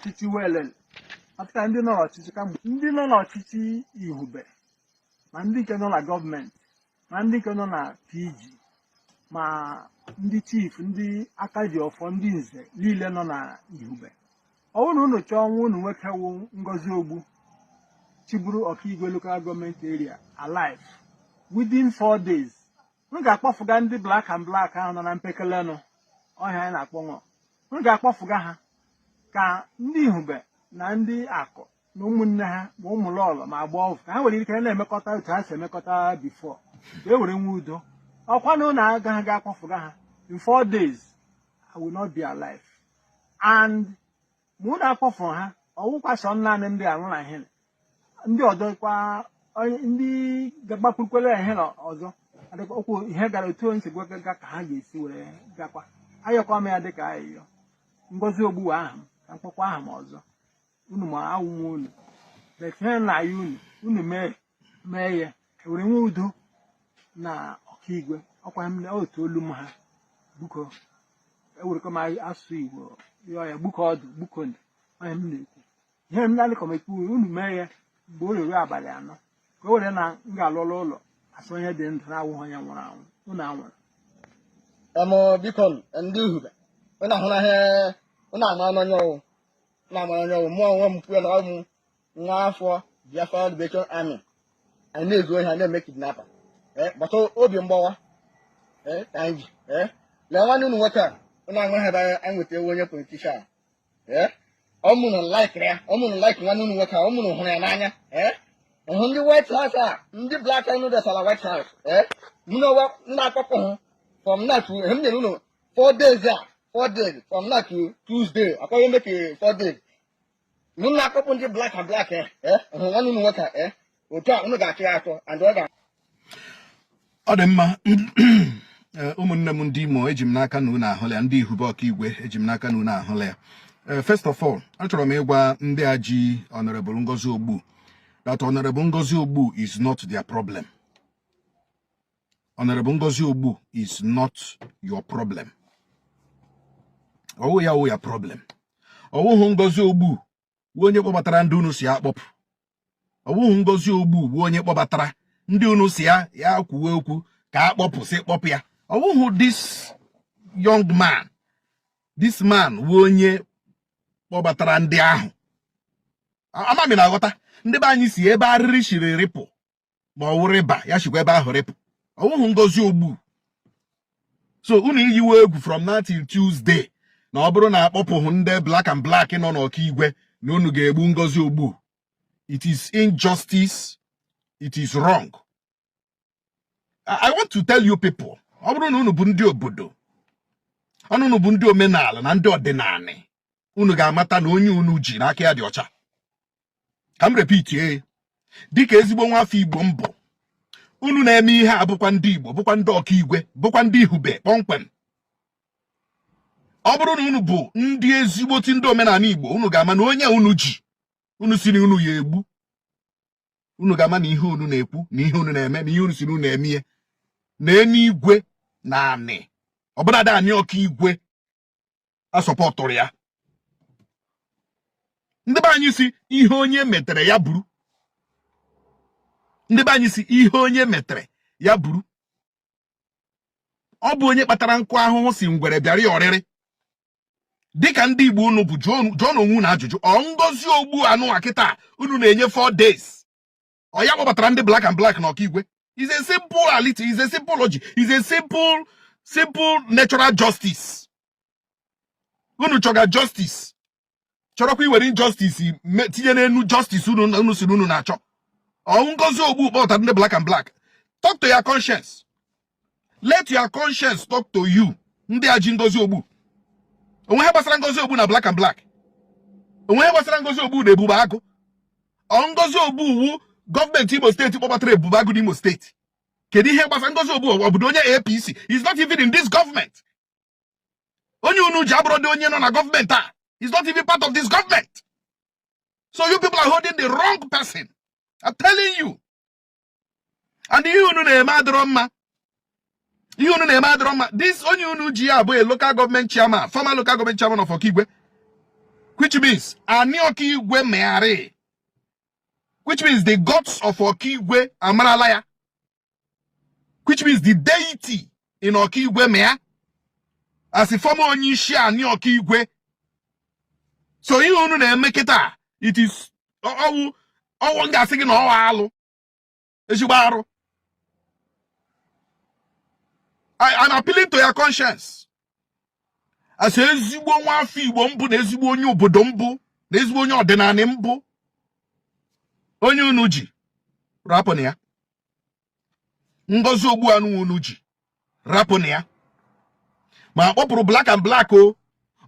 ọchịchị welele maka ndị nọ n'ọchịchị kamgbe ndị nọ n'ọchịchị ihube ma ndị nke nọ na gọọmenti ma ndị nke nọ na pg ma ndị chief ndị aka ji ọfọ ndị nze niile nọ na ihube ọ bụrụ na unu chọọ nwa unu nwoke wụ ngozi ogbu chịburu ọkaigwe local government area alive within four days unu ga-akpọfụga ndị black and black ahụ nọ na mpekelenụ ọhịa anyị na-akpọ ṅụọ unu ga-akpọfụga ha ka ndị ihube na ndị aku na ụmụnne ha ma ụmụlọlọ ma agbọvụ ka ha nwere ike na-emekọta otu ha si emekọta before ka e were nwe udo ọkwa na unu agaghị akpọfụga ha in four days I will not be alive and ma unu akpọfụrụ ha ọ wụkwa sọ naanị ndị a nwụrụ ahịrị ndị ọzọ kwa onye- ndị ga-agbakwurukwere ahịrị ọzọ adịkwa okwu ihe gara otu onye si gwa ga ka ha ga-esi were gakwa ayọkwa m ya dịka ayịyọ ngozi ogbu wụ aha m ka m kpọkwa aha m ọzọ unu ma awụ m unu but ihe m na-ayọ unu unu mee mee ya e were nwe udo na ọkaigwe ọkwa m na otu olu m ha biko ewerekwa m asụsụ igbo yọọ ya biko ọdụ biko ndụ onye m na-ekwu ihe m na-alị kọm ekwu unu mee ya mgbe o ruru abalị anọ ka o were na m ga-alụla ụlọ as onye dị ndụ na-awụghị onye nwụrụ anwụ unu anwụrụ em biko ndị ihube unu ahụla ihe unu ama n'onye ọ wụ unu ama n'onye ọ wụ mụ onwe m kwuo na ọ bụ nwa afọ Biafra Liberation Army anyị na-ezu ohi ha na-eme kidnapper eh, gbata obi mgbawa eh, ka anyị ji eh, lee nwanne unu nwoke a unu aṅụ ha ebe anyị nweta ewu onye politician ọ wụ unu laikiri ya ọ wụ unu like nwanne unu nwoke a ọ wụ unu hụrụ ya n'anya hụ ndị white house a ndị black and noodles ala white house mụ na ụwa na-akpọpụ hụ from now to m nyere unu four days a four days from now to tuesday akwaghị eme ka four days unu na-akpọpụ ndị black and black eh, eh, nwanne unu nwoke eh, otu a unu ga-achọ ya achọ and ọ ga ọ dị mma ụmụnne m ndị Imo eji m n'aka na unu ahụla ya ndị ihube ọkaigwe eji m n'aka na unu ahụla ya first of all achọrọ m ịgwa ndị a ji Honorable Ngozi Ogbu that Honorable Ngozi Ogbu is not their problem Honorable Ngozi Ogbu is not your problem. Ọ wụhụ ya wụ your problem. Ọ wụhụ Ngozi Ogbu wụ onye kpọbatara ndị unu sị ya kpọpụ. Ọ wụhụ Ngozi Ogbu wụ onye kpọbatara ndị unu sị ya ya kwuwe okwu ka a kpọpụ sị kpọpụ ya. Ọ wụhụ this young man this man wụ onye kpọbatara ndị ahụ. Ama m ị na-aghọta ndị be anyị sị ebe arịrị shiri rịpụ ma ọ wụ rịba ya shikwa ebe ahụ rịpụ ọ wụhụ ngozi ogbu so unu iyiwe egwu from now till Tuesday na ọ bụrụ na akpọpụghị ndị black and black nọ n'ọkaigwe na unu ga-egbu ngozi ogbu it is injustice it is wrong I want to tell you people ọ bụrụ na unu bụ ndị obodo na unu bụ ndị omenala na ndị ọdịnanị unu ga-amata na onye unu ji na aka ya dị ọcha ka m repeatie dịka ezigbo nwa afọ igbo m bụ unu na-eme ihe a bụkwa ndị igbo bụkwa ndị ọkaigwe bụkwa ndị ihube kpọmkwem ọ bụrụ na unu bụ ndị ezigboti ndị omenala igbo unu ga-ama na onye unu ji unu sị na unu ya-egbu unu ga-ama na ihe unu na-ekwu na ihe unu na-eme na ihe unu sị na unu ya-eme na eluigwe na anị ọbụladị anị ọkaigwe asupportụrọ ya ndị be anyị sị ihe onye metere ya buru ndị be anyị sị ihe onye metere ya buru ọ bụ onye kpatara nkụ ahụhụ sị ngwere bịara ya ọrịrị dịka ndị Igbo unu bụ jụọnụ onwe unu ajụjụ ọ ngozi ogbu anụwa kịta unu na-enye 4 days ọ ya kpọbatara ndị black and black na ọkaigwe it's a simple reality it's a simple logic it's a simple simple natural justice unu chọga justice chọrọkwa iwere injustice tinye n'enu justice unu sị unu na-achọ ọ ngozi ogbu kpọbatara ndị black and black talk to your conscience let your conscience talk to you ndị a ji ngozi ogbu o nwe ihe gbasara ngozi ogbu na black and black o nwe ihe gbasara ngozi ogbu na ebube agụ ọ ngozi ogbu wụ gọọmenti imo steeti kpọbatara ebube agụ n'imo steeti kedu ihe gbasara ngozi ogbu ọ bụdị onye apc he's not even in this government onye unu ji abụrọdị onye nọ na gọọmenti a he's not even part of this government so you people are holding the wrong person i'm telling you and ihe unu na-eme adịrọ mma ihe unu na-eme adịrọ mma this onye unu ji a bụ a local government chairman former local government chairman of Okigwe which means anị Okigwe ma ya rị which means the gods of Okigwe amarala ya which means the deity in Okigwe ma ya as a former onye isi anị Okigwe so ihe unu na-eme kịta it is ọ wụ ọ wụ m ga-asị gị na ọ wụ alụ ezigbo arụ I'm appealing to your conscience as ezigbo nwa afọ Igbo m bụ na ezigbo onye obodo m bụ na ezigbo onye ọdịnanị m bụ onye unu ji rapụnụ ya ngozi ogbu anụwa unu ji rapụnụ ya ma akpọpụrụ black and black o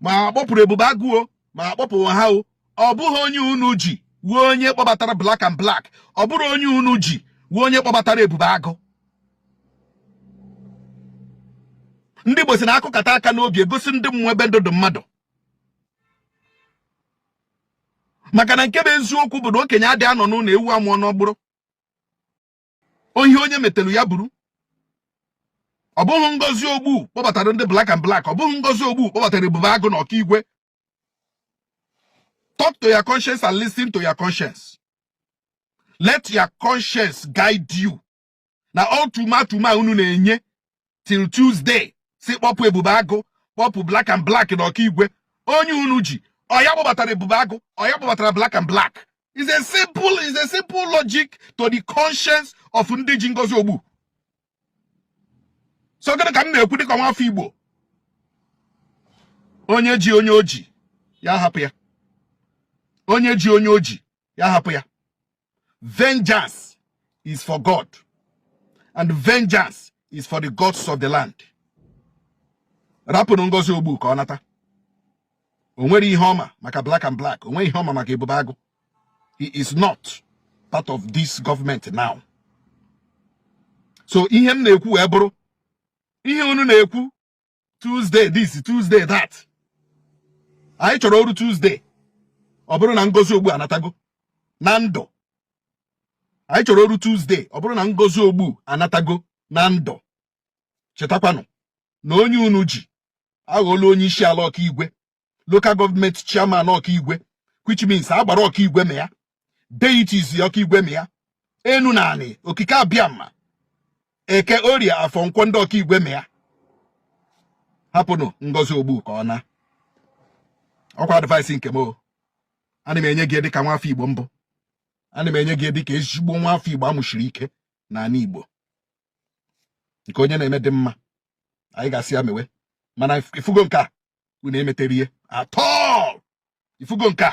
ma akpọpụrụ ebube agụ o ma akpọpụrụ ha o ọ bụghị onye unu ji wụ onye kpọbatara black and black ọ bụrọ onye unu ji wụ onye kpọbatara ebube agụ ndị Igbo si na akụkata aka n'obi egosi ndị mmụọ ebe ndụ dị mmadụ maka na nke bụ eziokwu bụ na okenye adị anọ n'ụlọ ewu amụọ n'ọgbụrụ ọ ihe onye metelu ya buru ọ bụghị ngozi ogbu kpọbatara ndị black and black ọ bụghị ngozi ogbu kpọbatara ebube agụ na ọkaigwe talk to your conscience and listen to your conscience let your conscience guide you na ultimatum a unu na-enye till Tuesday sị kpọpụ ebube agụ kpọpụ black and black na ọkaigwe onye unu ji ọ ya kpọbatara ebube agụ ọ ya kpọbatara black and black is a simple is a simple logic to the conscience of ndị ji ngozi ogbu so gịnị ka m na-ekwu dịka nwa afọ igbo onye ji onye o ji ya hapụ ya onye ji onye o ji ya hapụ ya vengeance is for God and vengeance is for the gods of the land rapụnụ ngozi ogbu ka ọ nata o nwere ihe ọ ma maka black and black o nwere ihe ọ ma maka ebube agụ he is not part of this government now so ihe m na-ekwu wee bụrụ ihe unu na-ekwu Tuesday this Tuesday that anyị chọrọ o ruo Tuesday ọ bụrụ na ngozi ogbu anatago na ndụ anyị chọrọ o ruo Tuesday ọ bụrụ na ngozi ogbu anatago na ndụ chetakwanụ na onye unu ji aghọọla onye isi ala ọkaigwe local government chairman ọkaigwe which means agbara ọkaigwe ma ya deities ọkaigwe ma ya enu na anị okike abịama eke orie afọ nkwọ ndị ọkaigwe ma ya hapụnụ ngozi ogbu ka ọ na ọ kwa advice nke m o ana m enye gị dịka nwa afọ igbo m bụ ana m enye gị dịka ezigbo nwa afọ igbo amụshiri ike na ala igbo nke onye na-eme dị mma anyị ga-asị ya mewe mana ị fụgo nke a unu emetarọ ihe at all ị fụgo nke a